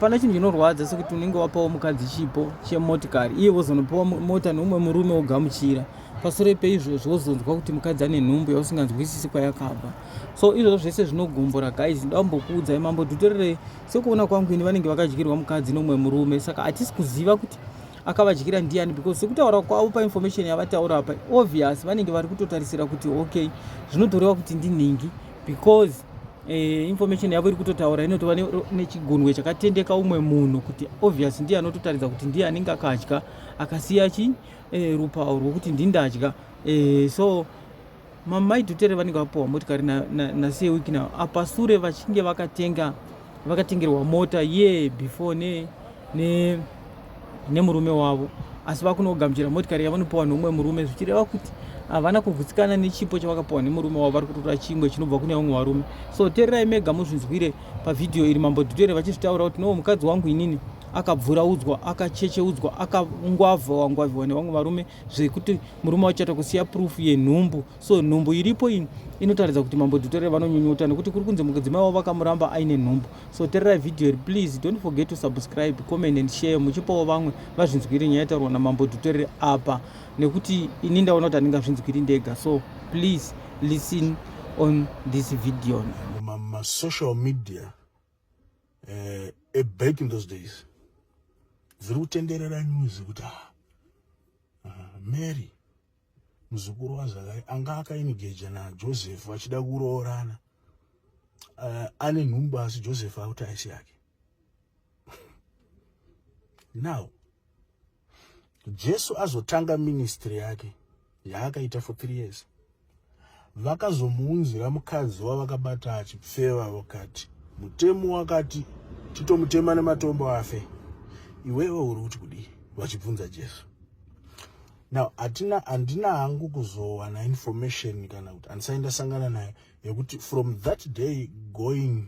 Hapana chinhu chinorwadza sekuti unenge wapawo mukadzi chipo chemotikari iye wozonopiwa mota neumwe murume wogamuchira pasure peizvozvo wozonzwa kuti mukadzi ane nhumbu yausinganzwisisi kwayakabva so izvozvo zvese zvinogumbura guys ndambokuudzai mambo dhutererei sekuona kwangu ini vanenge vakadyirwa mukadzi neumwe murume saka hatisi kuziva kuti akavadyira ndiani because sekutaura kwavo painformation yavataura apa obvious vanenge vari kutotarisira kuti okay zvinotorewa kuti ndinhingi because Eh, information yavo iri kutotaura inotova nechigunwe chakatendeka umwe munhu kuti obvious ndiye anototaridza kuti ndiye anenge akadya akasiya chi eh, rupawo rwokuti ndindadya eh, so mamai dhutere vanenge vapiwa motikari nasewiki na, na, na apa sure vachinge vakatenga vakatengerwa mota ye yeah, before ne, ne nemurume wavo asi vakunogamuchira motikari yavanopiwa neumwe murume zvichireva kuti havana kugutsikana nechipo chavakapiwa nemurume wavo vari kutora chimwe chinobva kune vamwe varume so tererai mega muzvinzwire pavhidhiyo iri mambo dhutere vachizvitaura kuti no mukadzi wangu inini akabvuraudzwa akachecheudzwa akangwavha wangwavhiwa nevamwe varume zvekuti murume wacho atakusiya proof yenhumbu So nhumbu iripo iyi inotaridza kuti mambo Dutere vanonyunyuta nekuti kuri kunzi mudzimai wavo vakamuramba aine nhumbu. So tererai video iri please don't forget to subscribe, comment and share muchipawo vamwe vazvinzwire nyaya itaurwa namambo Dutere apa nekuti ini ndaona kuti handingazvinzwiri ndega. So please listen on this video. Ma, ma social media uh, back in those days dziri kutenderera news kuti ah, uh, Mary muzukuru waZakari anga akainigeja naJoseph vachida kuroorana uh, ane nhumbu asi Joseph akuti aisi yake now Jesu azotanga ministry yake yaakaita for three years vakazomuunzira mukadzi wavakabata achipfeva vakati mutemo wakati titomutema nematombo afe iwewe uri kuti kudii vachibvunza jesu now hatina handina hangu kuzowana information kana kuti handisai ndasangana naye yekuti from that day going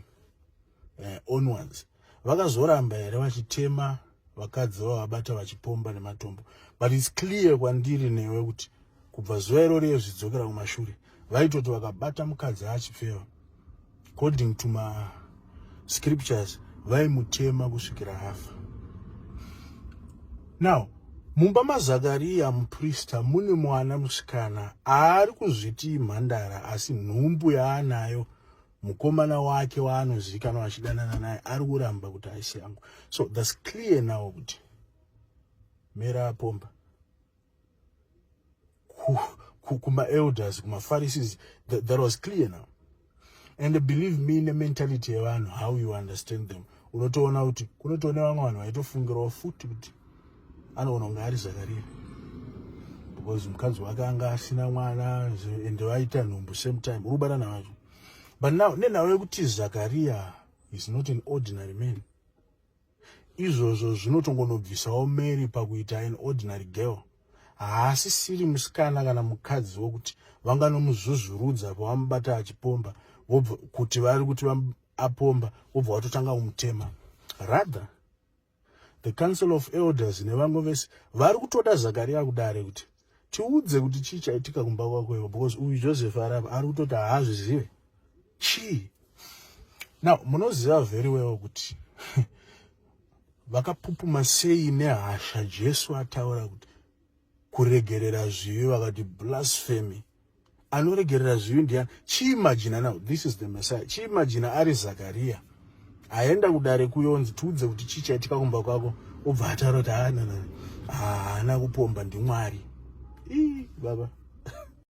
eh, onwards vakazoramba here vachitema vakadzi vavabata vachipomba nematombo but its clear kwandiri newe kuti kubva zuva irori yezvidzokera kumashure vaitoti vakabata mukadzi achipfeva according to mascriptures vaimutema kusvikira afa now mumba mazakariya muprista mune mwana musikana aari kuzviti imhandara asi nhumbu yaanayo mukomana wake waanozivikanwa achidanana naye ari kuramba kuti haisi yangu so thats clear now kuti mera apomba kumaelders ku, ku kumapharisees that, that was clear now and believe me nementality yevanhu how you understand them unotoona kuti kunotoone vamwe vanhu vaitofungirawo futi kuti anoona kunge ari zakaria because mukadzi wake anga asina mwana and vaita nhumbu same time uri kubatana vacho but now nenhau yekuti zakaria is not an ordinary man izvozvo zvinotongonobvisawo mary pakuita an ordinary girl haasisiri musikana kana mukadzi wokuti vanganomuzvuzvurudza pavamubata achipomba vobva kuti vari kuti apomba wobva watotanga kumutema rather the council of elders nevamwe vese vari kutoda zakariya kudare kuti tiudze kuti chii chaitika kumba kwako ivo because uyu joseph arava ari kutoti haazvizive chii now munoziva very well kuti vakapupuma sei nehasha jesu ataura kuti kuregerera zvivi vakati blasphemy anoregerera zvivi ndiyani chiimajina now this is the messiah chiimajina ari zakariya aenda kudare kuyonzi tiudze kuti chii chaitika kumba kwako obva ataura kuti haana kupomba ndimwari ii baba